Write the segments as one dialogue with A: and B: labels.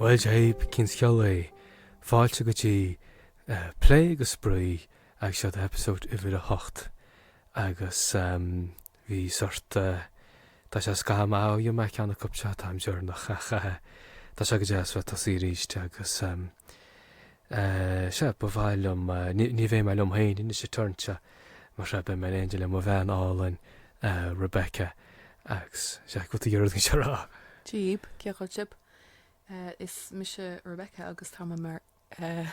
A: Bhuel Dia dhaoibh, cén scéal é? Fáilte go dtí Plé agus Spraoi agus seod é eipeasóid uimhir a hocht agus ehm. Bhí sórt, tá sé scaitheamh maith ó dhein mé ceann acu seo, an t-am deireanach ach tá sé go deas bheith tosaí aríst agus sea, ba mhaith liom, ní bheidh mé liom féin anois a' turn seo mar sea, beidh mé in éindigh le mo bhean álainn Rebecca agus sea, cad tuige a rud gan seo a rá? Dia dhaoibh, cén chaoi
B: a bhfuil sibh? Is mise Rebecca agus táim i m'fhear.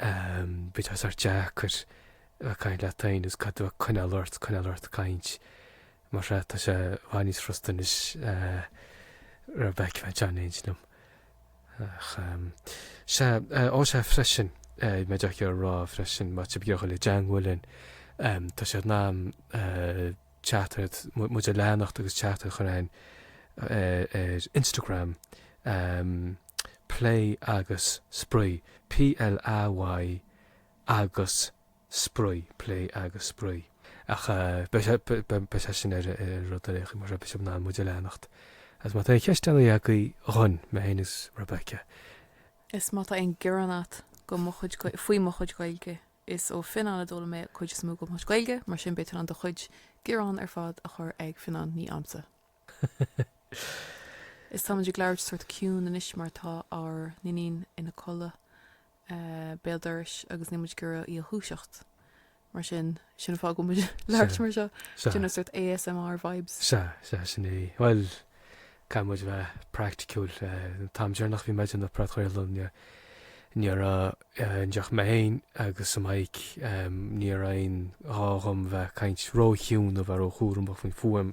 A: Bíonn sé sórt deacair a' caint leat féin is caithfidh tú coinneál ort, coinneál ort caint mar seo, tá sé bhfad níos frusta anois Rebecca a bheith in éindigh liom. Ach sea, ó sea freisin, bhí mé díreach ag iarraidh a rá freisin má tá sibh ag iarraidh a dhul i dteagmháil linn, tá sibh in ann teachtaireacht, muid a leanacht agus teachtaireacht a chur chugainn ar Instagram. plé agus spraoi, PLAY agus spraoi, plé agus spraoi. Ach beidh sé sin ar rud ar aon chaoi, mar sin, beidh sibh in ann muid a leanacht agus má tá aon cheisteanna agaibh dhúinn, mé féin agus Rebecca. Is
B: má tá aon gearán a't go mo chuid, faoi mo chuid Gaeilge, is ó Fionnán a d'fhoghlaim mé cuid is mó go mo chuid Gaeilge, mar sin beidh tú in ann do chuid gearán ar fad a chur ag Fionnán, ní a'msa. Is táimid ag labhairt sórt ciúin anois mar tá ár n-iníon ina codladh béal dorais agus níl muid ag iarraidh í a dhúiseacht. Mar sin, sin an fáth a bhfuil muid ag labhairt mar seo. Déanamh sórt ASMR vibes. Sea, sea, sin
A: é. Bhuel, caithfidh muid bheith praiticiúil. An t-am deireanach a bhí muid ag déanamh an podchraoladh, ní raibh ann ach mé féin agus an mic, ní raibh aon ghá dhom bheith ag caint ró-chiúin nó bheith ró-chúramach faoin fuaim.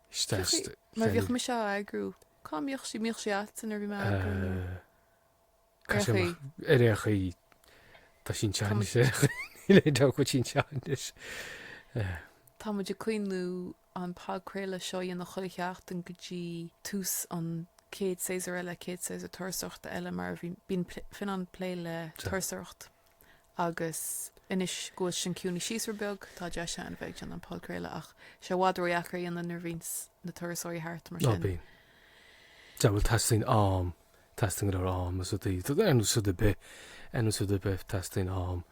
B: Isteach i mar bhíodh féin. mise á eagrú. Cá mbíodh sí? Mbíodh sí a'tsa nuair a bhí mé á eagrú nó? Eh. Ar Caithfidh
A: sé chaoi. amach. Ar aon chaoi, tá sí anseo Tá muid- anois ar aon chaoi. Níl aon dabht go bhfuil sí anseo anois.
B: Eh. Tá muid ag cuimhniú an podchraoladh seo a dhéanamh chuile sheachtain go dtí tús an chéad séasúr eile, chéad séasúr turasóireachta eile mar a bhíonn, bíonn pl- Fionnán ag plé le Tá. turasóireacht agus anois go bhfuil sin ag ciúnú síos rud beag, tá deis ann a bheith ag déanamh an podchraoladh, ach tá sé i bhfad ródheacair a dhéanamh nuair a bhíonns na turasóirí thart mar sin. Tá. Sea,
A: bhuel, teastaíonn am, teastaíonn go leor am is rudaí, ar nós rud ar bith, ar nós rud ar bith, teastaíonn am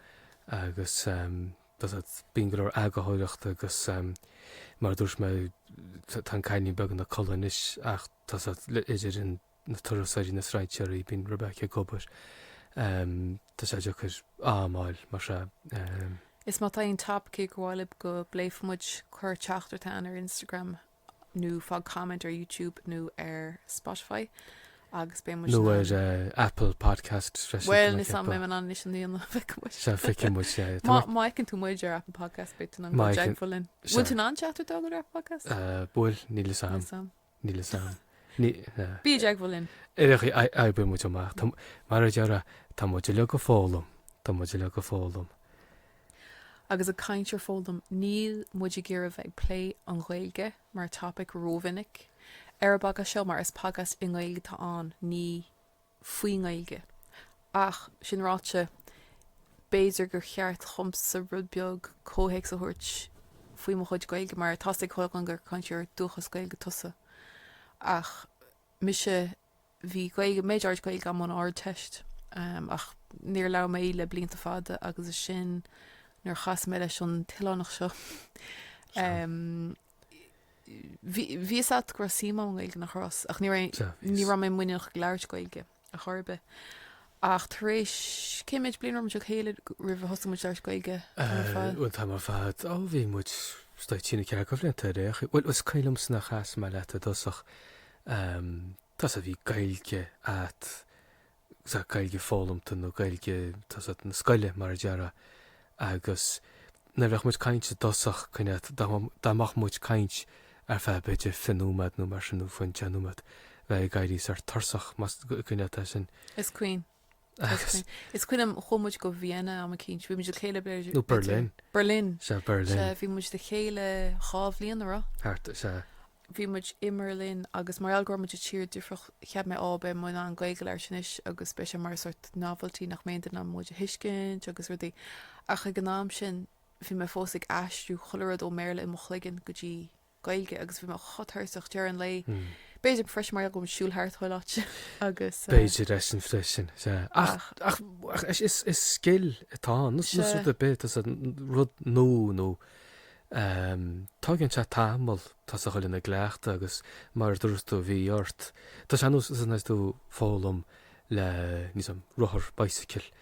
A: agus bíonn go leor eagarthóireachta agus mar a dúirt mé, tá an cailín beag ina codladh anois ach tá idir an, na turasóirí, na straightenerí, bíonn Rebecca ag obair, tá sé deacair am fháil mar sin. Is má
B: tá aon topaicí ag gabháil libh go bpléifeadh muid, cuir teachtaireacht chugainn ar Instagram nó fág comment ar YouTube nó ar Spotify agus beidh muid in ann. Nó ar
A: Apple Podcasts freisin. Bhuel, níl 'fhios a'm an
B: bhfuil muid in ann anois an líon a bheidh muid. Sea,
A: feicfidh muid, sea. Má fheiceann tú
B: muid ar Apple Podcasts beidh tú in ann dul i dteagmháil linn. Bhfuil tú in ann teachtaireacht a fháil ar Apple Podcasts? Bhuel, níl fhios
A: a'm. Níl 'fhios a'm. Níl 'fhios a'm. Bí i
B: dteagmháil linn. Oibreoidh
A: muid amach. Mar a déarfá tá muid uilig a' foghlaim, tá muid uilig a' foghlaim.
B: Agus ag caint ar foghlaim, níl muid ag iarraidh bheith ag plé an Ghaeilge mar topic rómhinic ar a' bpodcast seo mar is podcast i nGaeilge atá ann, ní. faoin nGaeilge. Ach, sin ráite, b'fhéidir gur cheart dhomsa rud beag comhthéacs a thabhairt faoi mo chuid Gaeilge, mar tá's ag chuile dhuine gur cainteoir dúchais Gaeilge tusa, ach mise, bhí Gaeilge, méid áirid Gaeilge agam ón Ardteist, ach níor labhair mé í le blianta fada, agus is sin nuair a chas mé leis an oileánach seo. Bhí 'fhios a't go raibh suim agam i nGaeilge, nach raibh's ach ní raibh, ní raibh mé muiníneach ag labhairt Gaeilge ar chor ar bith. Ach tar éis, cé méid bliain a raibh muid le chéile roimh a thosaigh muid labhairt Gaeilge? Bhuel, tamall
A: fada. Ó, bhí muid, is dóigh, trí nó ceathair de bhlianta ar aon chaoi. Bhuel, is cuimhin liomsa nuair a chas mé leat i dtosach. tá 's a't, bhí Gaeilge a'tsa, Gaeilge foghlamta nó Gaeilge, tá 's a't, na scoile mar a déarfá agus nuair a bheadh muid ag caint i dtosach, an cuimhne a't dá mbeadh muid ag caint ar feadh b'fhéidir fiche nóiméad nó mar sin nó fiú deich nóiméad bheifeá ag éirí sort tuirseach, an cuimhne a't é sin? Is cuimhin.
B: Is cuimhin. Is cuimhin liom, chuaigh muid go Vienna am eicínt, bhí muid le chéile b'fhéidir. Nó Berlin.
A: Berlin. Sea, Berlin.
B: Sea, bhí
A: muid le chéile
B: dhá bhliain a raibh. Thart, sea.
A: Bhí muid
B: i mBerlin agus mar gheall go raibh muid i tír difreach cheap mé, á, beidh muid in ann Gaeilge a labhairt anois agus beidh sé mar sort novelty nach mbeidh aon duine in ann muid a thuiscint agus rudaí. Ach ag an am sin bhí mé fós ag aistriú chuile rud ón mBéarla i mo chloigeann go dtí Gaeilge agus bhí mé chomh tuirseach ag deireadh an lae. B'fhéidir freisin mar gheall go raibh muid ag siúl thart chuile áit agus. B'fhéidir é sin
A: freisin, sea. Ach is scil atá ann, nós rud ar bith, tá 's a't, rud nua, tógann sé tamall tá 's a't, dul i gcleachtadh agus mar a dúirt tú, bhí ort, tá sé ar nós nuair atá tú ag foghlaim le, níl 'fhios a'm, rothar, bicycle,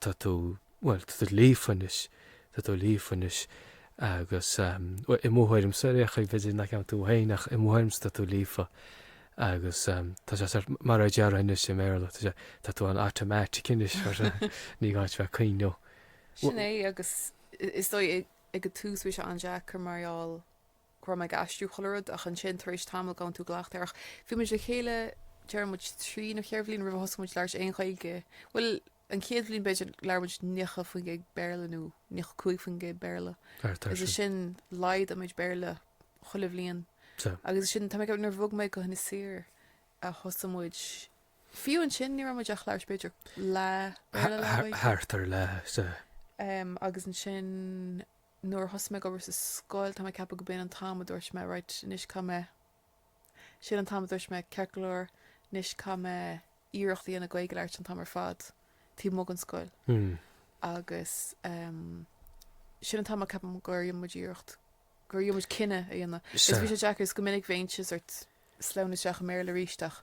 A: tá tú, bhuel, tá tú líofa anois, tá tú líofa anois agus, bhuel, i mo thuairimse, ar aon chaoi, b'fhéidir nach gceapann tú féin ach i mo thuairimse tá tú líofa agus tá sé sórt, mar a déarfainn anois i mBéarla, tá sé, tá tú an-automatic anois mar sin, ní gá duit bheith ag cuimhneamh. Sin
B: é agus is dóigh ag an tús bhí sé an-deacair mar gheall go raibh mé ag aistriú chuile rud ach ansin tar éis tamaill gabhann tú i gcleachtadh air ach bhí muid le chéile, déarfaidh muid trí nó cheithre bhliain roimh a thosaigh muid labhairt aon Ghaeilge, bhuel, an chéad bhliain b'fhéidir, labhair muid naocha faoin gcéad Béarla nó naocha cúig faoin gcéad Béarla. Thart air sin. Is ansin, laghdaigh muid Béarla chuile bhliain. Sea. Agus ansin, tá mé ag ceapadh, nuair a bhog mé go hInis Oírr a thosaigh muid, fiú ansin ní raibh muid ach labhairt b'fhéidir leath Béarla, leath Gaeilge.
A: Thart ar leath, sea. Em, agus
B: ansin nuair a thosaigh mé ag obair sa scoil, tá mé ag ceapadh go b'in an t-am a dúirt mé, right, anois, caithfidh mé Sin an t-am a dúirt mé, ceart go leor, anois caithfidh mé iarracht a dhéanamh Gaeilge labhairt an t-am ar fad, taobh amuigh den scoil. Agus sin an t-am a ceapaim gur dhein muid iarracht, gur dhein muid cinneadh a dhéanamh. Is bhí sé deacair, is go minic bheinnse sórt, ag sleamhnú isteach i mBéarla arís ach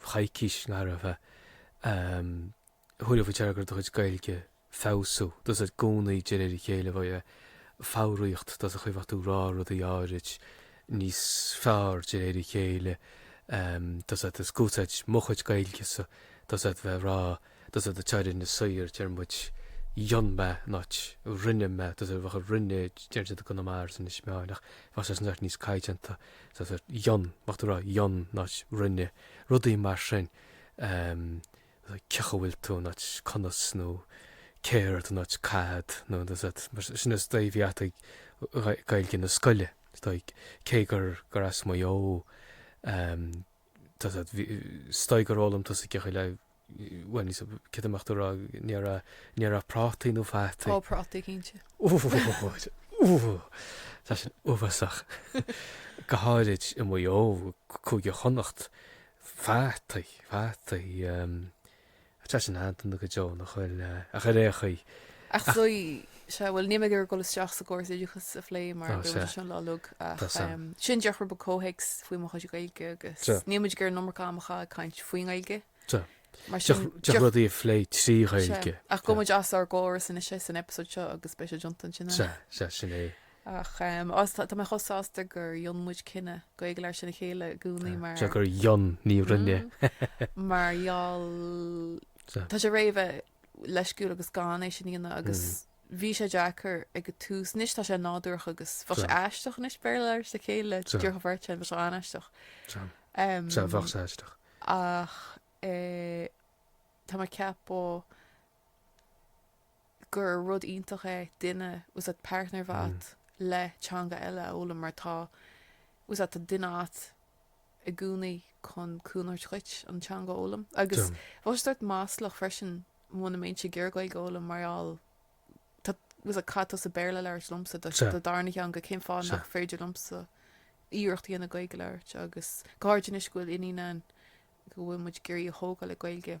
A: choicís go raibh a thuilleadh faoi deara go raibh do chuid Gaeilge ag feabhsú, tá's agat i gcónaí de réir a chéile bhí an fhoghraíocht, tá's agat an chaoi a bheadh tú ag rá rudaí áirid níos fearr de réir a chéile, tá's agat is ag úsáid mo chuid Gaeilge-sa, tá's agat bheith ag rá tá's agat deir in Inis Oírr deir muid dhein mé not rinne mé tá's agat bheadh rinne deir siad i gConamara is Inis Meáin ach bheadh sé san áit níos caighdeánta tá's agat dhein bheadh tú ag rá dhein not rinne rudaí mar sin em cén chaoi a bhfuil tú not conas nó céard not cad nó tá's agat mar sin is dóigh bhí agatsa Gaeilge na scoile is dóigh cé gur gur as Maigh Eo em tá's agat bhí is dóigh gur fhoghlaim tusa cén chaoi a bhfuil bhuel, is céard a bheadh tú ag rá, an ndéarfá, an ndéarfá prátaí nó fataí. Á, prátaí, cinnte.
B: Uair! Uair!
A: Tá sin uafásach. Go háirid i Maigh Eo, Cúige Chonnacht, fataí, fataí, tá sin aitheanta go deo nach bhfuil, ach ar aon chaoi, Ach,
B: Sea, bhuel, níl mé ag iarraidh dul isteach sa gcóras oideachais a phlé mar bheadh muid anseo lá Nollag ach sin díreach rud beag comhthéacs faoi mo chuid Gaeilge agus níl muid ag iarraidh an iomarca ama a chaitheamh ag caint faoin nGaeilge. Mar
A: sin, díreach rudaí a phlé trí Ghaeilge. Ach gheobhaidh muid as ár
B: gcóras anois é san eipeasóid seo agus beidh sé deonta ansin. Sea, sea,
A: sin é.
B: Ach tá mé chomh sásta gur dhein muid cinneadh Gaeilge labhairt lena chéile i gcónaí mar... Sea, gur dhein, ní
A: rinne. Mar gheall...
B: Tá sé réidh a bheith... leisciúil agus gan é sin a dhéanamh agus bhí sé deacair ag an tús. Anois tá sé nádúrach agus bheadh sé aisteach anois Béarla a labhairt le chéile díreach an bheirt againn, bheadh sé an-aisteach.
A: Sea, bheadh
B: sé aisteach. Ach tá mé ag ceapadh gur rud iontach é duine, bhfuil 's a'd partner mhaith le teanga eile a fhoghlaim mar tá, bhfuil 's a'd, tá duine a'at, i gcónaí chun cúnamh a thabhairt dhuit an teanga a fhoghlaim. Agus tá sé sórt maslach freisin muna mbeinnse ag iarraidh Gaeilge a fhoghlaim mar gheall cén fáth a gcaithfeadh tusa Béarla a labhairt liomsa do darna theanga cén fáth nach féidir liomsa iarracht a dhéanamh Gaeilge a labhairt agus go háirid anois go bhfuil iníon ann go bhfuil muid ag iarraidh í a thógáil le Gaeilge.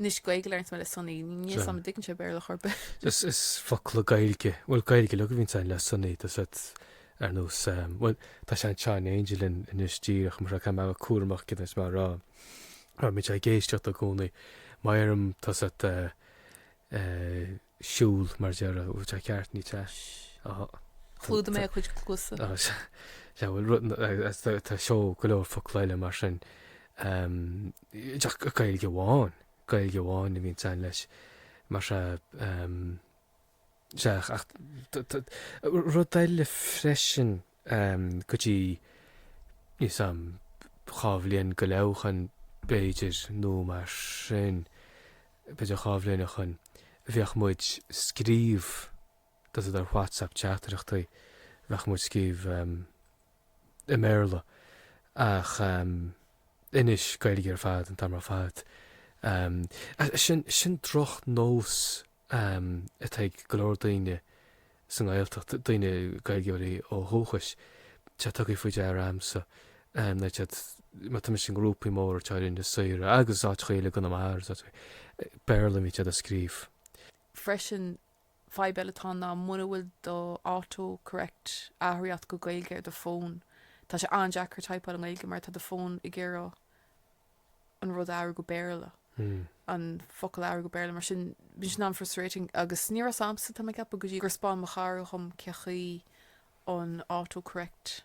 B: Anois Gaeilge a labhraíonns mé le Sonaí, níl 's a'm an dtuigeann sé Béarla ar chor ar bith. Is is
A: focla Gaeilge, bhuel Gaeilge uilig a bhíonns a'inn le Sonaí, tá 's a'd ar nós ehm, bhuel tá sé an-chineál aingealta anois díreach mar seo, caithfidh mé a bheith cúramach céard atá mé a rá, mar bíonn sé ag éisteacht i gcónaí, má deirim tá 's a'd eh eh, siúl má deirim. Ú, tá ceart, ní tá. Sh.
B: Tá. Chlúdaigh mé a cuid cluasa. Tá. Sh. Tá, bhuel, rud na, agus
A: tá, tá seó go leor focla eile mar sin. Ehm, just Gaeilge amháin, Gaeilge amháin a bhíonns a'inn leis. Mar sea, ehm, sea, ach t- t- rud eile freisin go dtí níl 's a'm, dhá bhliain go leith ó shoin b'fhéidir nó mar sin, b'fhéidir dhá bhliain ó shoin, bheadh muid ag scríobh, tá 's a'd, ar WhatsApp teachtaireachtaí, bheadh muid ag scríobh i mBéarla ach anois Gaeilge ar fad an t-am ar fad. Sin droch nós. um atá ag go leor daoine sa nGaeltacht, daoine, Gaeilgeoirí ó dhúchas, sea, tugtha faoi deara a'msa, um tá 's a'd, má tá mise i ngrúpaí muintir Inis Oírr agus a leithéidí i gConamara agus a leithéid, Béarla a bhíonn siad a' scríobh.
B: Freisin, fadhb eile atá ann ná muna bhfuil do auto-correct athraithe a't go Gaeilge ar do fón, tá sé an-deacair teipeáil i nGaeilge mar tá do fón ag iarraidh, an rud a athrú go Béarla, an focal a athrú go Béarla, mar sin bíonn sin an-frustrating agus ní raibh fhios a'msa, tá mé ag ceapadh, go dtí gur 'spáin mo chara dhom cé chaoi an auto-correct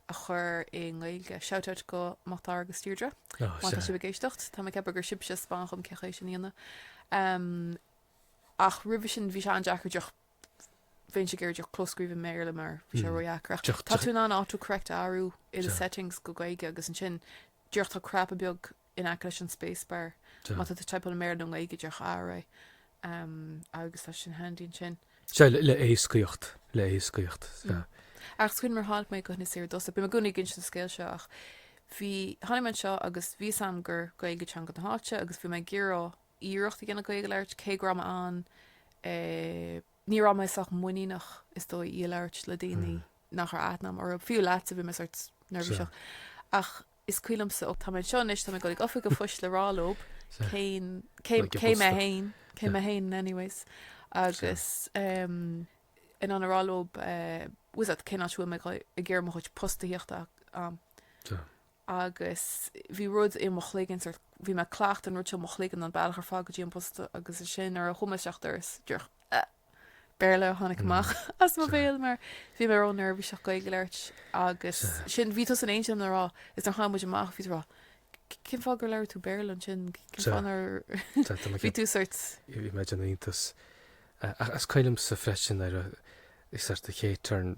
B: a chur i nGaeilge, shout out go Mac Dara agus Deirdre má tá sibh ag éisteacht, tá mé ag ceapadh gur sibhse a 'spáin dhom cé chaoi sin a dhéanamh, em ach roimhe sin bhí sé an-deacair díreach bheinnse ag iarraidh díreach clóscríobh i mBéarla mar bhí sé ródheacair. Ach tá tú in ann autocorrect a athrú i do settings go Gaeilge agus ansin díreach tá cnaipe beag in aice leis an spacebar má tá tú ag teipeáil i mBéarla nó i nGaeilge, díreach athraigh é agus tá sé sin handy ansin. Sea,
A: le héascaíocht, le héascaíocht, sea. Ach
B: is cuimhin liom nuair a tháinig mé go hInis Oírr i dtosach, bím i gcónaí ag inse an scéil seo ach bhí, tháinig mé anseo agus bhí 'fhios a'm gur Gaeilge teanga na háite agus bhí mé ag iarraidh, iarracht a dhéanamh Gaeilge a labhairt, cé go raibh mé in ann eh. ní raibh mé sách muiníneach, is dóigh, í a labhairt le daoine nach raibh aithne agam orthu. Fiú leatsa, bhí mé sórt neirbhíseach. Ach is cuimhin liomsa, ó tá mé anseo anois, tá mé ag dul ag Oifig an Phoist le rá leo cén, cé, cé mé fhéin, cé mé fhéin anyways agus em in ann a rá leo eh, bhfuil a fhios a'd, cén áit a bhfuil mé ag iarraidh mo chuid post a thíocht ann. agus bhí rud i mo chloigeann, sórt, bhí mé ag cleachtadh an rud seo i mo chloigeann an bealach ar fad go dtí an posta agus ansin nuair a chuaigh mé isteach an doras, díreach eh. Béarla a tháinig amach as mo bhéal mar bhí mé ró-neirbhíseach Gaeilge a labhairt agus sin, bhí tusa in éindí liom nach raibh is nuair a chuaigh muid amach bhí tú ag rá cén fáth gur labhair tú Béarla ansin, cén fáth nár bhí tú sórt. Bhí mé ag déanamh iontas.
A: Ach is cuimhin liomsa freisin ar is ar do chéad turn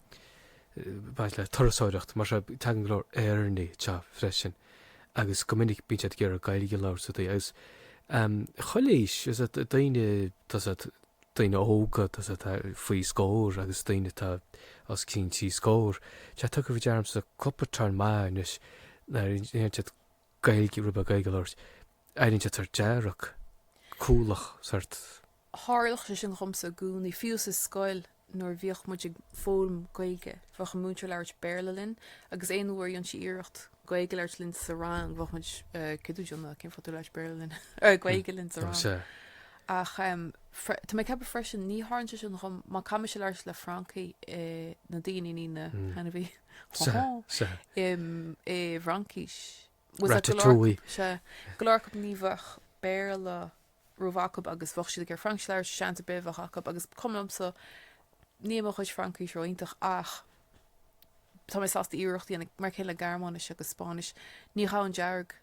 A: baint le turasóireacht, mar seo, tagann go leor Éireannaigh anseo freisin agus go minic bíonn siad ag iarraidh Gaeilge a labhairt agus agus chuile aois, is é, daoine, tá a fhios a'd, daoine óga, tá a fhios a'd faoi scór agus daoine atá os cionn trí scór, tá tugtha faoi deara a'msa cúpla turn anois nuair a dhéanann siad Gaeilge, rud beag Gaeilge a labhairt. éiríonn siad sort dearg, cúthalach sort. Tharlódh
B: sé sin dhomsa i gcónaí, fiú sa scoil nuair a bhíodh muid ag foghlaim Gaeilge, bheadh an múinteoir ag labhairt Béarla linn agus aon uair a dhéanfadh sí iarracht Gaeilge a labhairt linn sa rang, bheadh muid, céard tá tú ag déanamh, cén fáth a bhfuil tú ag labhairt Béarla linn, eh, Gaeilge linn sa rang? Ach em, tá mé ag ceapadh freisin, ní tharlaíonn sé sin dhom má caithfidh mise labhairt le Francaigh i, na daoine, ní na hainmhithe, hó hó, i bhFraincis. ratatouille. Sea, go leor acu ní bheadh Béarla ró-mhaith acu agus bheadh siad ag iarraidh Fraincis a labhairt, seans ar bith a bheadh acu agus cuma liomsa, níl mo chuid Fraincis ró-iontach ach tá mé sásta iarracht a dhéanamh, mar a chéile Gearmáinis agus Spáinnis, ní ghabhfainn dearg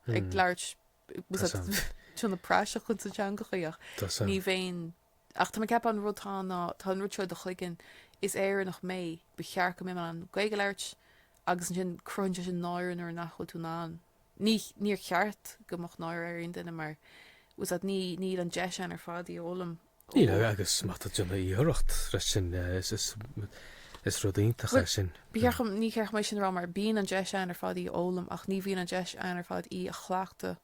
B: ag labhairt, bhfuil a fhios a'd ag déanamh praiseach ins na teangacha ach ní bheinn. Ach tá mé ag ceapadh an rud tá ná tá an rud seo i do chloigeann, is Éireannach mé, ba cheart go mbeadh mé in ann Gaeilge a labhairt agus ansin cruthaíonn sé sin náire nuair nach bhfuil tú in ann, ní níor cheart go mbeadh náire ar aon duine mar bhfuil a fhios a'd ní níl an deis againn ar fad í a fhoghlaim Níl, ó.
A: agus má tá tú ag déanamh iarracht freisin is is is rud iontach é sin. Bhuel, ba cheart dhom ní cheart dhom é
B: sin a rá mar bíonn an deis againn ar fad í a fhoghlaim ach ní bhíonn an deis againn ar fad í a chleachtadh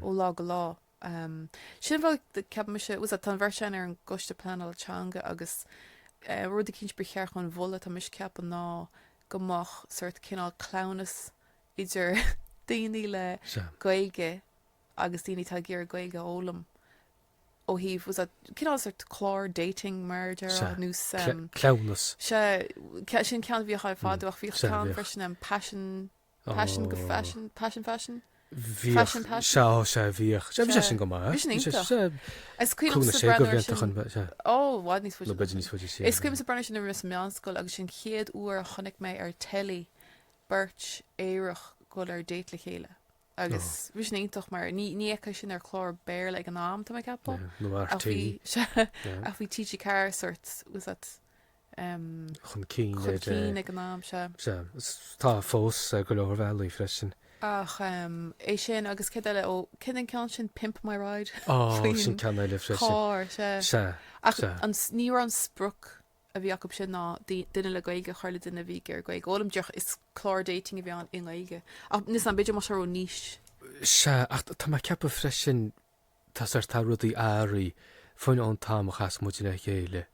B: ó lá go lá. Umm. Sin an fáth, ceapaimse, bhfuil a fhios a'd, tá an bheirt againn ar an gCoiste Pleanála Teanga agus eh rud eicínt ba cheart dhúinn a mholadh, tá mise ag ceapadh, ná go mbeadh sort cineál cleamhnas idir daoine le Sea. Gaeilge agus daoine atá ag iarraidh Gaeilge a fhoghlaim ó thaobh, bhfuil a fhios a'd, cineál sort clár dating, mar a déarfá, Sea. nós Cle, ehm. cleamhnas.
A: Sea,
B: sin ceann a bhíodh ann fadó ach bhíodh Sea, ceann bhíodh. freisin, ehm, Paisean. Paisean go Faisean, Paisean
A: Faisean? Bhíodh, sea, sea, bhíodh. Sea, bhí sé sin go maith. Bhí sin iontach. Is cuimhin liomsa breathnú sin.
B: Ó, bhfad níos fuide. Bhfad níos fuide, sea. Is cuimhin liomsa breathnú sin nuair a bhí mé sa meánscoil agus sin chéad uair a chonaic mé ar telly beirt aerach ag dul ar date le chéile agus bhí sin iontach mar ní fheicfeá sin ar chlár Béarla ag an am, tá mé ag ceapadh. Nó ar RTÉ. Sea, ach bhí TG4 sórt, bhfuil a fhios agat
A: chun cinn ag an
B: am seo. Sea, is tá
A: fós ar go leor bhealaí freisin. Ach
B: é sin agus céard eile, ó, céard é an ceann sin, Pimp My Ride? Ó, sin ceann eile
A: freisin. Faoin charr, sea. Sea.
B: Ach ní raibh an sprioc a bhí acu sin ná duine le Gaeilge a chur le duine a bhí ag iarraidh Gaeilge a fhoghlaim, díreach is clár dating a bhí ann i nGaeilge. Ach, níl a fhios agam, b'fhéidir más seo raibh níos. Sea, ach
A: tá mé ag ceapadh freisin. Tá rudaí athraithe fiú ón t-am a chas muid le chéile.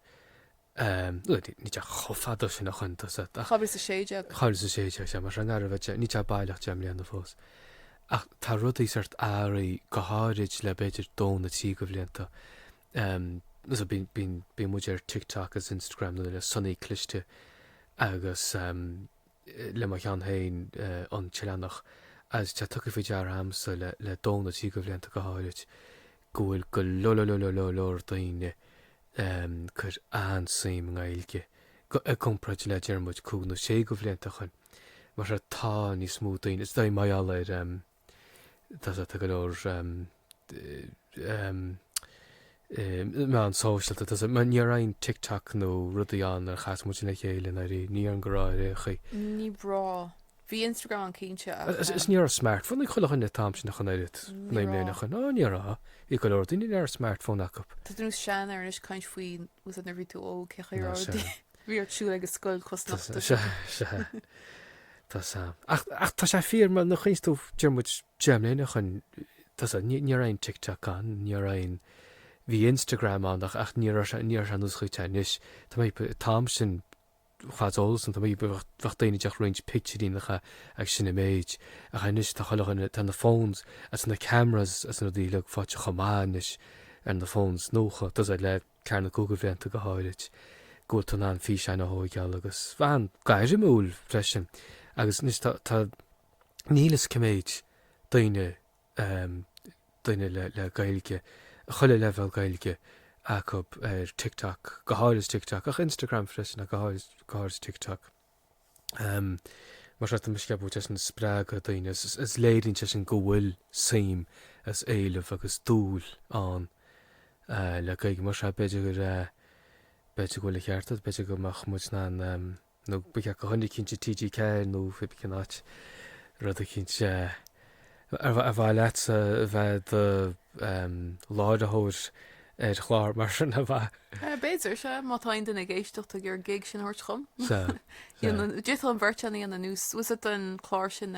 A: Níl sé chomh fada sin ó shin tá a fhios agat ach. Dhá mhíle is a
B: sé déag. Dhá mhíle is a sé déag, sea, mar sin
A: an fhear a bheith, níl sé baileach deich mbliana fós. Ach tá rudaí sórt athraithe go háirid le b'fhéidir dó nó trí de bhlianta. Bíonn muid ar TikTok agus Instagram nó le Sionnaigh Cliste agus le mo cheann féin, an tOileánach, agus tá tugtha faoi deara agamsa le dó nó trí de bhlianta go háirid go bhfuil go leor, leor, leor, leor, leor, leor daoine ag cur an-suim i nGaeilge i gcomparáid le, déarfaimid, cúig nó sé de bhlianta ó shoin. Mar tá níos mó daoine, is dóigh, mar gheall ar, tá go leor meáin shóisialta, tá, ní raibh aon TikTok nó rudaí ann nuair a chas muid lena chéile, nár aon, ní ar an gcomhrá ar aon chaoi. Ní
B: raibh. Bhí Instagram ann cinnte ach. Is ní raibh
A: smartphone ag chuile dhuine an t-am sin ach an oiread, naoi mbliana ó shin, á ní raibh, bhí go leor daoine nár raibh smartphone acu. Tá tú i do sheanfhear anois
B: ag caint faoi. úsáid na bhí tú óg cé chuir ord bhí ort siúil agus scoil cosnachta se se
A: Tá sam. Ach, ach tá sé fíor mar nó chuins tú dearmid deimléine chun tá sa níor aon TikTok an, níor aon bhí Instagram an ach, ach níor níor an ús chuite anois. Tá mé táim sin chomh eolas an t-am, bheadh daoine ag roinnt pictiúireacha agus sin an méid. Ach anois tá chuile dhuine, tá na phones agus na cameras agus na rudaí uilig faighte chomh maith anois ar na phones nuacha, tá a fhios agat le ceathair nó cúig de bhlianta go háirid, go bhfuil tú in ann físeáin a thóigeáil agus bheith an-ghairmiúil freisin agus anois tá, tá, níl a fhios cé mhéad daoine, um daoine le Gaeilge, chuile leibhéal Gaeilge acu ar TikTok, go háirid ar TikTok, ach Instagram freisin, ach go háirid, go háirid TikTok. um Mar seo, tá mise ag ceapadh go bhfuil sé sin ag spreagadh daoine, is, is léiríonn sé sin go bhfuil suim agus éileamh agus dúil ann le Gaeilge, mar seo, b'fhéidir go, b'fhéidir go bhfuil an ceart agat, b'fhéidir go mbeadh muid in ann um. nó ba cheart go choinnigh cinnte TG4 nó pé ar bith cén áit rud eicínt ar mhaith leat a bheith i do láithreoir ar chlár mar sin a bheith. B'fhéidir, sea,
B: má tá aon duine ag éisteacht atá ag iarraidh an gig sin a thabhairt chugam. Sea, sea. D'fhéadfadh an bheirt againn é a dhéanamh, bhfuil 's a'd an clár sin,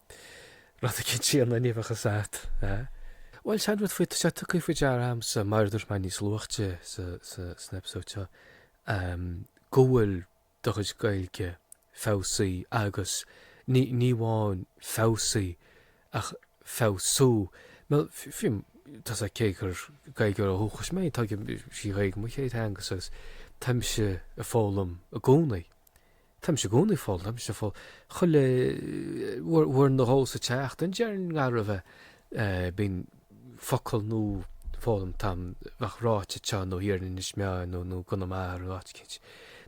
A: rud eicínt an uibheachas a'd. Bhuel, sin rud faoi, tá sé tugtha faoi deara agamsa, mar a dúirt mé níos luaithe san eipeasóid seo, go bhfuil do chuid Gaeilge feabhsaithe agus ní amháin feabhsaithe ach ag feabhsú. Bhuel, fiú, tá 's a'd, cé gur Gaeilgeoir ó dhúchas mé, tá sí an Ghaeilge mo chéad theanga agus táimse ag foghlaim i gcónaí. Táimse i gcónaí ag foghl, táimse ag foghl chuile uair nó dhó sa tseachtain, déarfainn go raibh. Bíonn focal nua foghlamtha a'm a bheadh ráite teo nó thiar in Inis Meáin nó nó i gConamara nó áit eicínt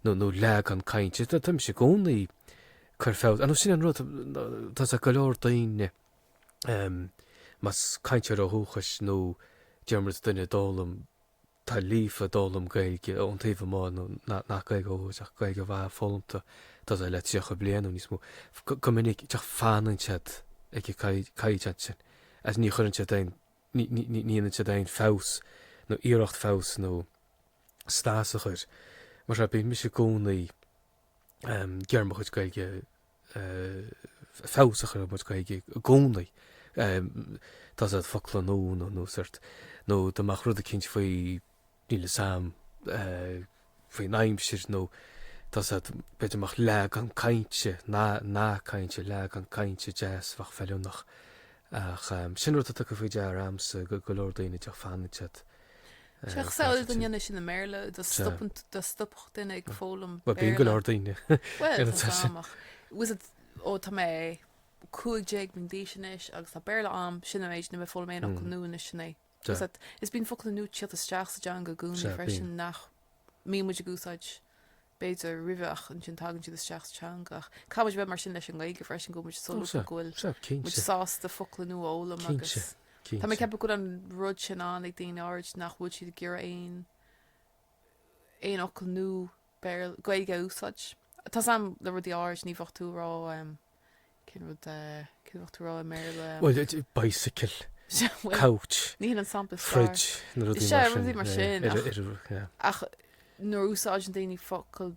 A: nó nó leagan cainte. Táimse i gcónaí ag cur feabhas air nó sin an rud tá 's a'd, go leor daoine más cainteoir ó dhúchas nó déarfaidh muid duine a d'fhoghlaim tá líofa a d'fhoghlaim Gaeilge ón taobh amuigh, nó nach Gaeilge ó ach Gaeilge mhaith foghlamtha, tá 's a'd, le tríocha bliain nó níos mó. Go minic, fanann siad ag an gcaighdeán sin agus ní chuireann siad aon, ní dhéanann siad aon feabhas nó iarracht feabhas nó snas a chur mar sin. Bíonn mise i gcónaí. ag iarraidh mo chuid Gaeilge feabhas a chur ar mo chuid Gaeilge i gcónaí. Tá 's a'd, focla nua nó nó sórt nó dá mbeadh rud eicínt faoi, níl 'fhios a'm, faoin aimsir nó tá 's a'd, b'fhéidir go mbeadh leagan cainte, nath, nath cainte, leagan cainte deas a bheadh feiliúnach. Ach sin rud atá tugtha faoi deara a'msa go go leor daoine fanann siad. Tá sé
B: cosúil dá ndéanfá sin i mBéarla, dá stopfadh duine ag foghlaim Béarla. Bíonn go leor daoine
A: ina teach sin.
B: Bhfuil 's a'd, ó, tá mé 15 bliain d'aois anois agus tá Béarla a'm, sin an méid, ní bheidh mé ag foghlaim aon fhocal nua anois sin é. Is bíonn focla nua ag tíocht isteach sa dteanga i gcónaí freisin nach mbíonn muid ag úsáid b'fhéidir, roimhe ach ansin tagann siad isteach sa teanga. Ach caithfidh muid a bheith mar sin leis an nGaeilge freisin, go bhfuil muid solúbtha, go bhfuil muid sásta focla nua a fhoghlaim agus tá mé ag ceapadh go bhfuil an rud sin ann ag daoine áirid nach bhfuil siad ag iarraidh aon aon fhocal nua Béarla, Gaeilge a úsáid. Tá 's a'm le rudaí áirid, ní bheadh tú a' rá, Cén rud a, céard a bheadh tú a' rá i mBéarla?
A: Bhuel, bicycle, couch, fridge, na rudaí
B: mar sin.
A: Is é, rudaí mar sin. Ar,
B: ar, yeah. Ach nuair a úsáideann daoine focal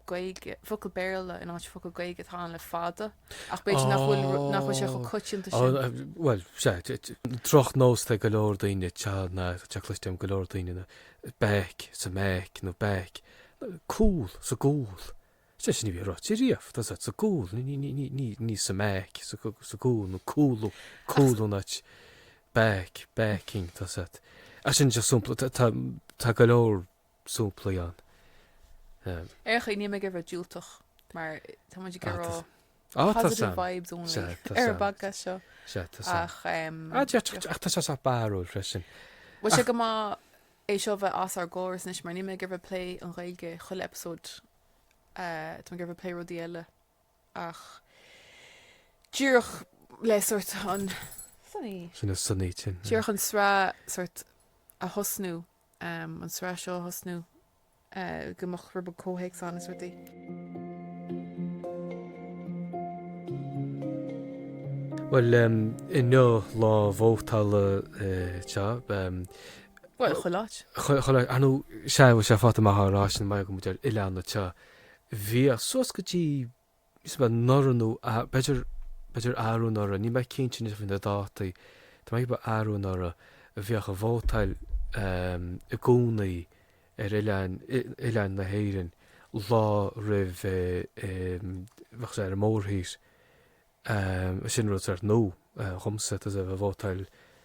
B: Gaeilge, focal Béarla in áit focal Gaeilge atá ann le fada. Ach b'fhéidir nach bhfuil, oh. nach bhfuil sé chomh coitianta oh, sin. Uh, well,
A: sé, drochnós atá ag go leor daoine te na cloisim go leor daoine na back sa mback nó back cúl sa gcúl. Sé sin a bhí ráite riamh, tá siad sa gcúl, ní sa mback, sa gcúl nó cúlú, cúlú in áit back, backing, tá's a'd, sin de sompla, tá go leor somplaí ann.
B: Ar ndóigh, níl mé ag iarraidh bheith diúltach mar tá muid ag rá positive vibes only ar an bpodcast seo.
A: Ach tá sé sách barrúil freisin. Bhfuil sé go maith
B: é seo bheith as ár gcóras anois mar níl mé ag iarraidh plé an Ghaeilge chuile eipeasóid tá mé ag iarraidh plé rudaí eile ach díreach le sórt an sonaí sin
A: a sonaí sin díreach an sraith
B: sórt a thosnú an sraith seo a thosnú. go mbeadh rud beag comhthéacs ann is
A: rudaí. Bhuel, inniu lá vótála tá.
B: Bhuel, chuile áit. Chuile áit,
A: nó sea, bhfuil sé fánach a rá sin mar go bhfuil muid ar oileán anseo. Bhíodh suas go dtí is ea, ba anuraidh nó a, b'fhéidir, b'fhéidir arú anuraidh, níl mé cinnte anois faoi na dátaí, tá mé ag ceapadh ba arú anuraidh a bhíodh a' vótáil i gcónaí ar oileáin, oileáin na hÉireann lá roimh, bheadh sé ar a mórthír, sin rud sórt nua dhomsa, tá a' vótáil,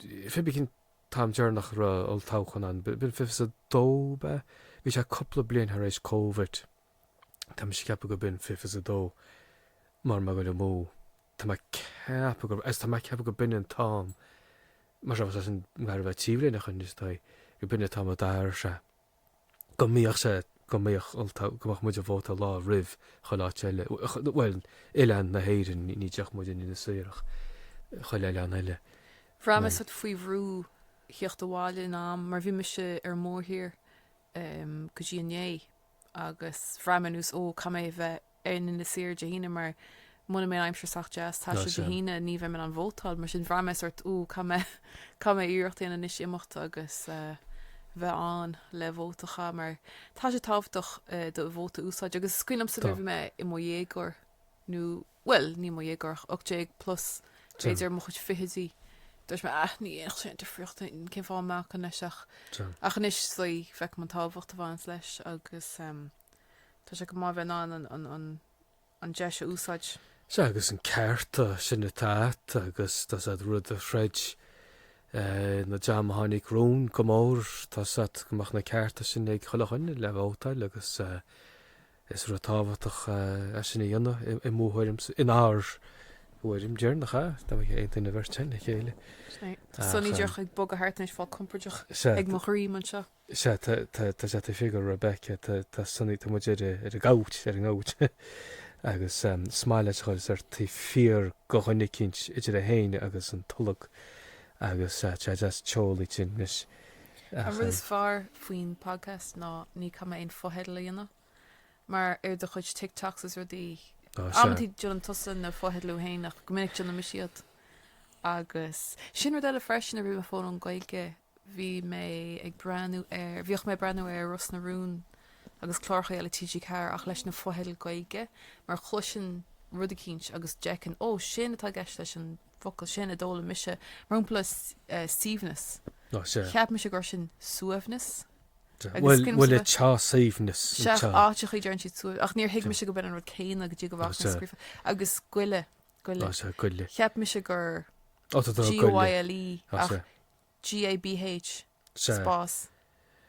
A: fiche fiche. Cén t-am deireanach a raibh olltoghchán ann, b'in fiche fiche a dó, ab ea? Bhí sé cúpla bliain thar éis Covid. Tá mise ag ceapadh gurb in fiche fiche a dó mara bhfuil mé ag dul amú. Tá mé ag ceapadh gurb, agus tá mé ag ceapadh gurb in an t-am, más rud é is nach gá a bheith ag taobh linn ach, is dóigh, gurb in an t-am a d'athraigh sé. go mbíodh sé, go mbeadh ulta, go mbeadh muid ag vótáil lá roimh chuile áit eile, bhuel, oileán na hÉireann, ní dtiocfadh muid i ndiaidh na hÉireann ach, chuile oileán eile. Bhraith mé
B: sórt faoi bhrú theacht abhaile in am mar bhí mise ar an mórthír go dtí inné agus bhraith mé ar nós, ó, caithfidh mé a bheith in Inis Oírr Dé hAoine mar muna mbeidh an aimsir sách deas le taisteal Dé hAoine ní bheidh mé in ann vótáil mar sin bhraith mé sórt ó caithfidh mé caithfidh mé iarracht dhéanamh anois imeacht agus bheith ann le vóta a chaitheamh mar tá sé tábhachtach do vóta úsáid agus is cuimhin liomsa nuair bhí mé i mo dhéagóir nó bhuel ní mo dhéagóir ach ocht déag plus b'fhéidir mo chuid fichidí dúirt mé ah ní dhéanfaidh sé difríocht cén fáth a mbacfainn leis ach ach anois is dóigh feicim an tábhacht a bhaineanns leis agus tá sé go maith a bheith in ann an deis a úsáid. Sea, agus na
A: cearta sin atá a't, agus tá 's a't rud a throid na dream a tháinig romhainn go mór, tá 's a't go mbeadh na cearta sin ag chuile dhuine le vótáil agus is rud tábhachtach é sin a dhéanamh i mo thuairimse, in ár dtuairim déarfainn, nach ea? Tá muid ag aontú, an bheirt againn le chéile. Sea, tá Sonny
B: díreach ag bogadh thart anois, ag fáil compoirdeach ag mo dhroim anseo. Is ea, tá, tá,
A: tá, tá, tá figiúr Rebecca, tá, tá Sonaí, tá muid ar a, ar a gabhailt, ar a ngabhailt, agus ehm, smile aige a ghoil, is sórt fíor go dhuine eicínt idir é féin agus an tolg agus eh, tá deas teolaí sin anois An rud ehm,
B: is fearr faoin podcast ná ní chaithfidh mé aon fotheidil a dhéanamh mar ar do chuid TikToks is rudaí á sea, amantaí déanann tusa na fotheidil iad féin ach go minic déanann mise iad agus sin rud eile freisin a bhí mo fón ón Gaeilge bhí mé ag breathnú ar, bhíodh mé ag breathnú ar Ros na Rún agus cláracha eile TG4 ach leis na fotheidil Gaeilge, mar chloisinn rud eicínt agus d'fheicinn, ó, sin atá i gceist leis an bhfocal sin a d'fhoghlaim mise mar shampla suíomhneas, Ó, sea. cheap mise gur sin suaimhneas Sea. agus
A: Bhuel, bhuel, anseo. tá suaimhneas Sea, anseo.
B: áiteachaí deireann siad suaimh ach níor thuig mise go b'in an rud céanna go dtí go bhfaca mé sea. scríofa agus goile, goile, Ó, sea, goile. cheap mise gur Ó, tá do ghoile. GOILE ach Ó, sea. GABH, Sea. spás,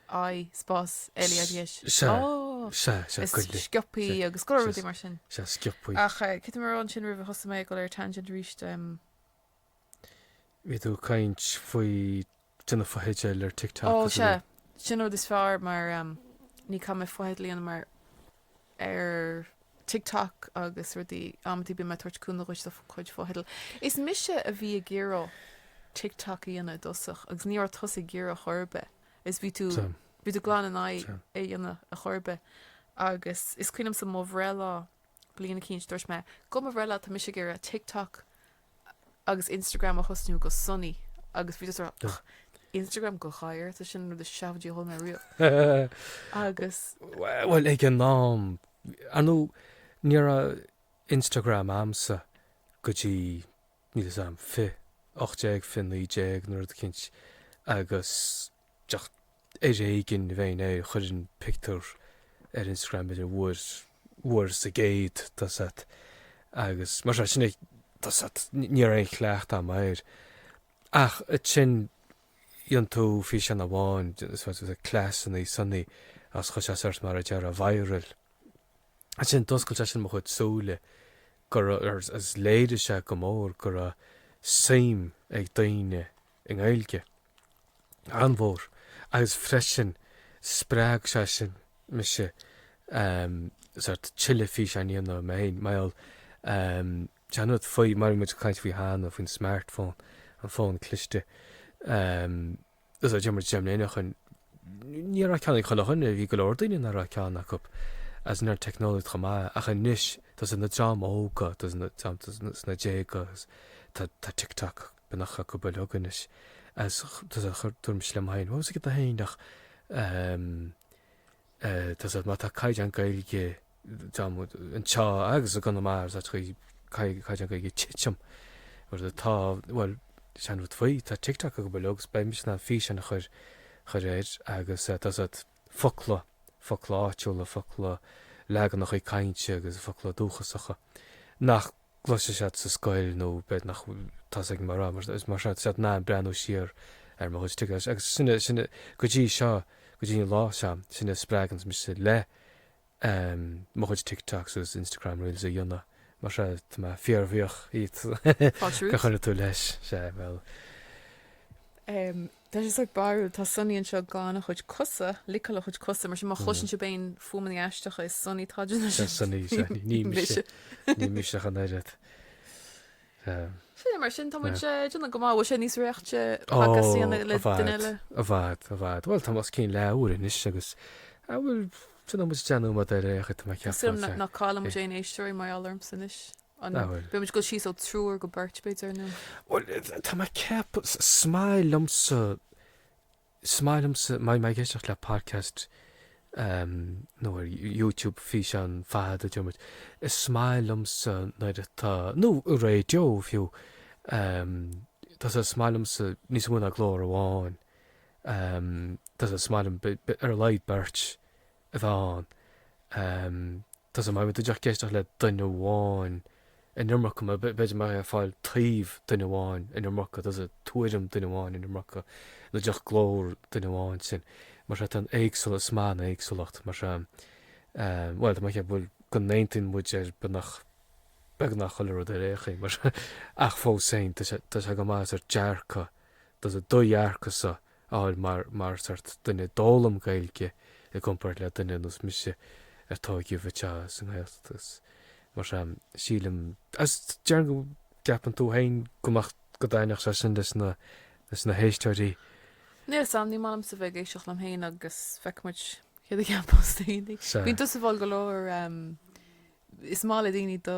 B: I, spás, LE, IDH, Sea. Ó! Sea, sea, sciopaí Sea. agus go leor rudaí Sea. mar sin. Sea, sciopaí. Ach eh,
A: cé raibh mé
B: ansin roimh a thosaigh mé ag dul ar tangent arís.
A: em, Bhí tú ag caint faoi do, na fotheidil ar TikTok. Ó, sea. Sin
B: rud is fearr mar em, ní caithfidh mé fotheidil a dhéanamh mar ar TikTok agus rudaí, amantaí bíonn mé ag tabhairt cúnamh dhuit le do chuid fotheidil. Is mise a bhí ag iarraidh TikTok a dhéanamh i dtosach agus ní raibh tusa ag iarraidh chor ar bith is bhí tú, Sea. bhí tú glan in aghaidh Sea. é a dhéanamh a chor ar bith agus is cuimhin liomsa mo bhreithlá bliain eicínt dúirt mé, Go mo bhreithlá tá mise ag iarraidh TikTok agus Instagram a thosnú go Sonny agus bhí tusa ach Instagram go gadhar tá sin an rud is seafóidí a chuala mé riamh agus Bhuel ag
A: an am ar ndóigh ní raibh Instagram a'msa go dtí níl fhios a'm 2018, 2019 nó rud eicínt agus Ach ar éigin a bheinn ag cur an pictiúr ar Instagram idir bhfuair sa gcéad tosach agus mar sin ag tosach ní raibh aon chleacht agam air. Ach ansin rinne tú físeán amháin de chleasannaí Sonny agus chuaigh sé sórt mar a déarfá viral. Ansin d'oscail sé sin mo chuid súile go raibh, agus léirigh sé go mór go raibh suim ag daoine i nGaeilge. an-mhór agus freisin spreag sé sin mise sórt tuilleadh físeáin a dhéanamh mé féin mar gheall ar an rud faoi mar a bhí muid ag caint faoi cheana faoin smartphone, an fón cliste. Is deich mbliana déag ó shin, ní raibh ceann ag chuile dhuine,, bhí go leor daoine nach raibh ceann acu agus ní raibh an teicneolaíocht chomh maith ach anois tá sé ag na dream óga, tá sé sna déaga, tá TikTok, bíonn ag an bpobal óg anois is dúirt mise liom féin, what was it get the féin ach ehm tá 'fhios a'd má tá caighdeán Gaeilge anseo agus i gConamara is áit chuí caighdeán Gaeilge ag titim mar atá bhuel sin an rud faoi, tá TikTok ag an bpobal óg agus beidh mise in ann físeáin a chur chur air agus tá 'fhios a'd focla focla áitiúla focla leaganacha cainte agus focla dúchasacha nach gcloisfidh siad sa scoil nó b'fhéidir nach dtosaigh mná mar is mar seo siad in ann breathnú siar ar mo chuid tuige agus sin a, sin a, go dtí seo, go dtí an lá seo, sin a spreaganns mise le mo chuid TikToks agus Instagram Reels a dhéanamh mar sin tá mé fíorbhuíoch díot gur chuir tú leis, sea, bhuel.
B: Tá sé sórt barrúil, tá Sonny anseo ag glanadh a chuid cosa, liceáil a chuid cosa, mar sin má chloiseann sibh aon fuaimeanna aisteacha is Sonny atá ansin. Is ansin Sonny, is ea, ní
A: mise, ní mise ach an oiread. Sin
B: é, mar sin tá muid ag déanamh go maith, bhfuil sé níos réichte podcast a dhéanamh le duine eile? Ó, i bhfad, i
A: bhfad, bhuel tá muid os cionn leathuair anois agus, a bhuel, tá muid ag déanamh maith ar aon chaoi, tá mé ag ceapadh. Is dóigh liom nach gcailleann muid
B: aon
A: éisteoir
B: mar gheall ormsa anois. An bhfuil? Beidh muid ag dul síos ó triúr go beirt, b'fhéidir, nó. Bhuel, tá mé
A: ag ceapadh, is maith liomsa, is maith liomsa, má tá mé ag éisteacht le podcast nó ar YouTube físeán fada, deir muid, is maith liomsa nuair atá, nó raidió fiú, tá sé, is maith liomsa níos mó ná glór amháin, tá sé, is maith liom ar a laghad beirt a bheith ann. Tá 'fhios a'd, má bhíonn tú díreach ag éisteacht le duine amháin an iomarca, nó b'fhéidir mbeadh ag fáil taobh duine amháin an iomarca, tá 'fhios a'd, tuairim duine amháin an iomarca, nó díreach glór duine amháin sin. Mar sin, tá an éagsúlacht, is maith an éagsúlacht, mar sin. Bhuel, tá mé ag ceapadh go n-aontaíonn muid ar beagnach, beagnach chuile rud ar aon chaoi, mar sin, ach fós féin, tá sé, tá sé go maith, sórt dearcadh, tá 'fhios a'd, do dhearcadh-sa, fháil mar, mar sórt duine a d'fhoghlaim Gaeilge i gcomparáid le duine ar nós mise a tóigeadh anseo sa nGaeltacht agus mar sin, sílim. Agus déarfainn go gceapann tú féin go mbeadh, go dtaitneodh sé sin leis na, leis na héisteoirí?
B: Níl 'fhios a'm, ní maith liomsa bheith ag éisteacht liom féin agus feicfidh muid céard a cheapfas daoine. Sea. Bíonn tusa ag fáil go leor, is maith le daoine do.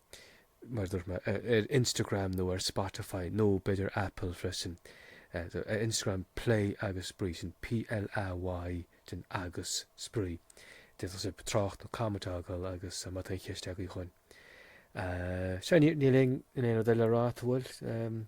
A: mar a dúirt mé, ar Instagram nó ar Spotify nó b'fhéidir Apple freisin. Ar Instagram Play agus Spraoi, sin P-L-A-Y then agus Spraoi. D'fhéadfadh sibh trácht nó comment a fhágáil agus má tá aon cheist agaibh chugainn. Sea, níl aon rud eile le rá, an bhfuil?